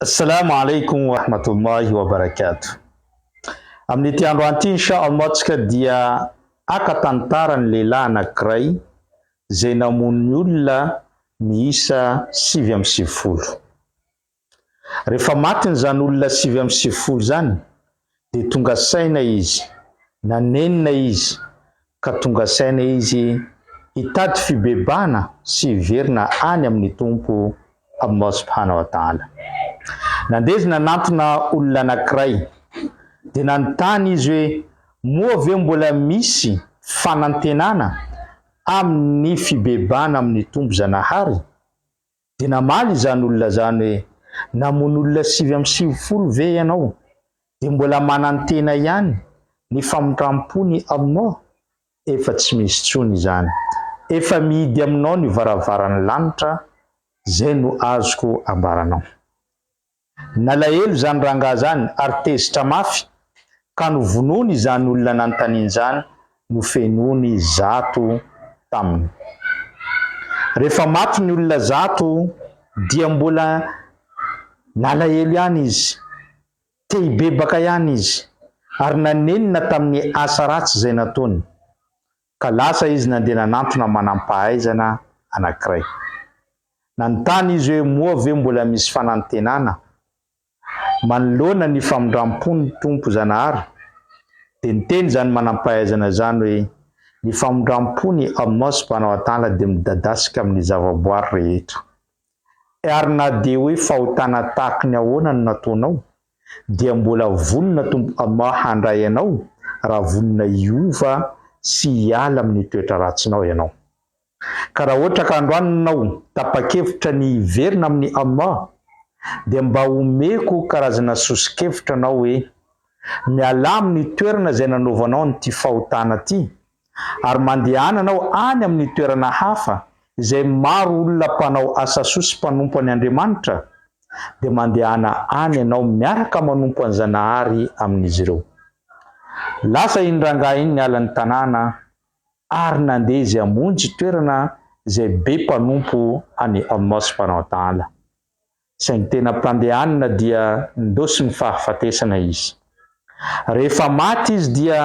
Assalamu alaikum wa rahmatullahi wa barakatuh. Amin'ity andro anty insha Allah tsika dia haka tantara ny lehilahy anankiray izay namono ny olona miisa sivy amby sivifolo. Rehefa matiny izany olona sivy amby sivifolo izany dia tonga saina izy, nanenina izy ka tonga saina izy hitady fibebahana sy hiverina any amin'ny Tompo Allah subhanahu wa ta'ala. Nandeha izy nanantona olona anankiray, dia nanontany izy hoe, moa ve mbola misy fanantenana amin'ny fibebahana amin'ny Tompo Zanahary? Dia namaly izany olona izany hoe, Namono olona sivy amby sivifolo ve ianao, dia mbola manantena ihany ny famindram-pony aminao? Efa tsy misy intsony izany. Efa mihidy aminao ny varavaran'ny lanitra, izay no azoko ambaranao. Nalahelo izany rangahy izany ary tezitra mafy ka novonoiny izany olona nanontaniany izany, nofenoiny zato taminy. Rehefa maty ny olona zato dia mbola nalahelo ihany izy, te hibebaka ihany izy ary nanenina tamin'ny asa ratsy izay nataony. Ka lasa izy nandeha nanantona manam-pahaizana anankiray. Nanontany izy hoe moa ve mbola misy fanantenana? Manoloana ny famindram-pon'ny Tompo Zanahary, dia niteny izany manam-pahaizana izany hoe ny famindram-po ny Allah Subhanahu wa Ta'ala dia midadasika amin'ny zavaboary rehetra. Ary na dia hoe fahotana tahaka ny ahoana no nataonao, dia mbola vonona Tompo Amah handray anao raha vonona hiova sy hiala amin'ny toetra ratsinao ianao. Ka raha ohatra ka androany nao tapa-kevitra ny hiverina amin'i Amah, dia mba omeko karazana soso-kevitra anao hoe, mialà amin'ny toerana izay nanaovanao an'ity fahotana ity, ary mandehana anao any amin'ny toerana hafa izay maro olona mpanao asa soa sy mpanompo an' Andriamanitra, dia mandehana any ianao miaraka manompo an'i Zanahary amin'izy ireo. Lasa iny rangahy iny niala ny tanàna ary nandeha izy hamonjy toerana izay be mpanompo an'i Amos mpanao adaala. Saingy tena mpandehanina dia nindosy ny fahafatesana izy. Rehefa maty izy dia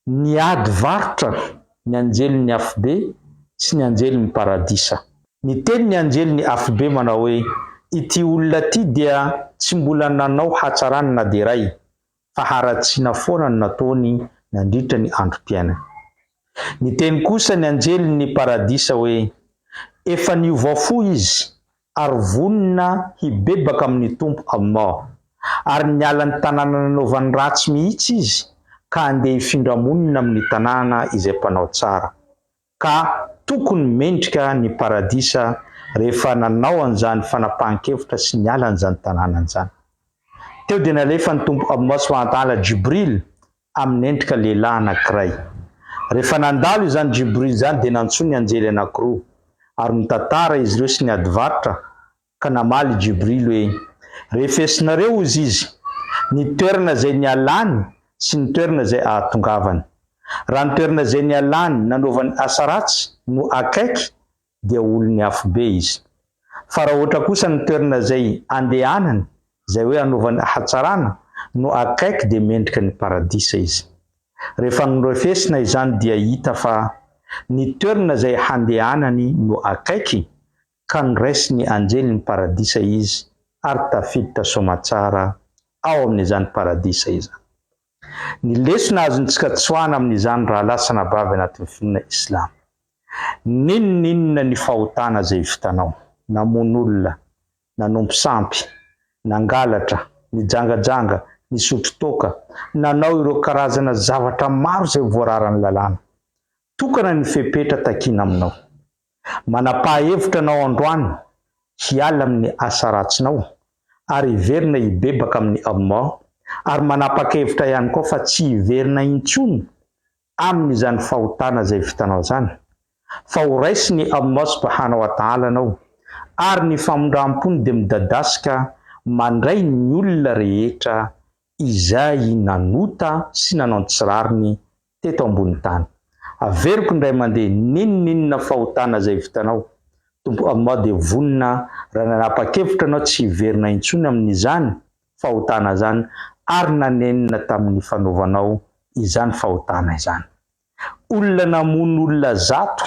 niady varotra ny anjelin'ny afobe sy ny anjelin'ny paradisa. Niteny ny anjelin'ny afobe manao hoe, Ity olona ity dia tsy mbola nanao hatsarana na dia iray. faharatsiana foana no nataony nandritra ny androm-piainany. Niteny kosa ny anjelin' ny paradisa hoe, Efa niova fo izy ary vonona hibebaka amin' ny Tompo Allah, ary niala ny tanàna nanaovany ratsy mihitsy izy ka handeha hifindra monina amin' ny tanàna izay mpanao tsara. ka tokony mendrika ny paradisa rehefa nanao an'izany fanapahan-kevitra sy niala an'izany tanàna an'izany. Teo dia nalefan'ny Tompo Allah Subhanahu-wa-Ta'ala Jibril amin'ny endrika lehilahy anankiray. Rehefa nandalo izany Jibril izany dia nantsoiny anjely anankiroa ary nitantara izy ireo sy niady varotra Ka namaly Jibril hoe, Refesinareo, hozy izy, ny toerana izay nialany sy ny toerana izay ahatongavany. Raha ny toerana izay nialany nanaovany asa ratsy no akaiky dia olon'ny afobe izy. Fa raha ohatra kosa ny toerana izay andehanany, izay hoe anaovany hatsarana, no akaiky dia mendrika ny paradisa izy. Rehefa norefesina izany dia hita fa ny toerana izay handehanany no akaiky ka noraisy ny anjely ny paradisa izy ary tafiditra soamatsara ao amin'izany paradisa izany. Ny lesona azontsika tsoahana amin'izany rahalahy sy anabavy anatin'ny finoana islamo. N'inon'inona ny fahotana izay vitanao, namono olona, nanompo sampy, nangalatra, nijangajanga, nisotro toaka, nanao ireo karazana zavatra maro izay voararan'ny lalàna tokana ny fepetra takiana aminao. Manapaha-hevitra anao androany hiala amin'ny asa ratsinao ary hiverina hibebaka amin'i Allah, ary manapak'hevitra ihany koa fa tsy hiverina intsony amin'izany fahotana izay vitanao izany, fa ho raisin'i Allah subhanahu wa ta'ala anao, ary ny famindram-pony dia midadasika mandray ny olona rehetra izay nanota sy nanao ny tsy rariny teto ambony tany. Averiko indray mandeha n'inon'inona fahotana izay vitanao, Tompo Allah dia vonona raha nanapa-kevitra ianao tsy hiverina intsony amin'izany fahotana izany ary nanenina tamin'ny fanaovanao izany fahotana izany. Olona namono olona zato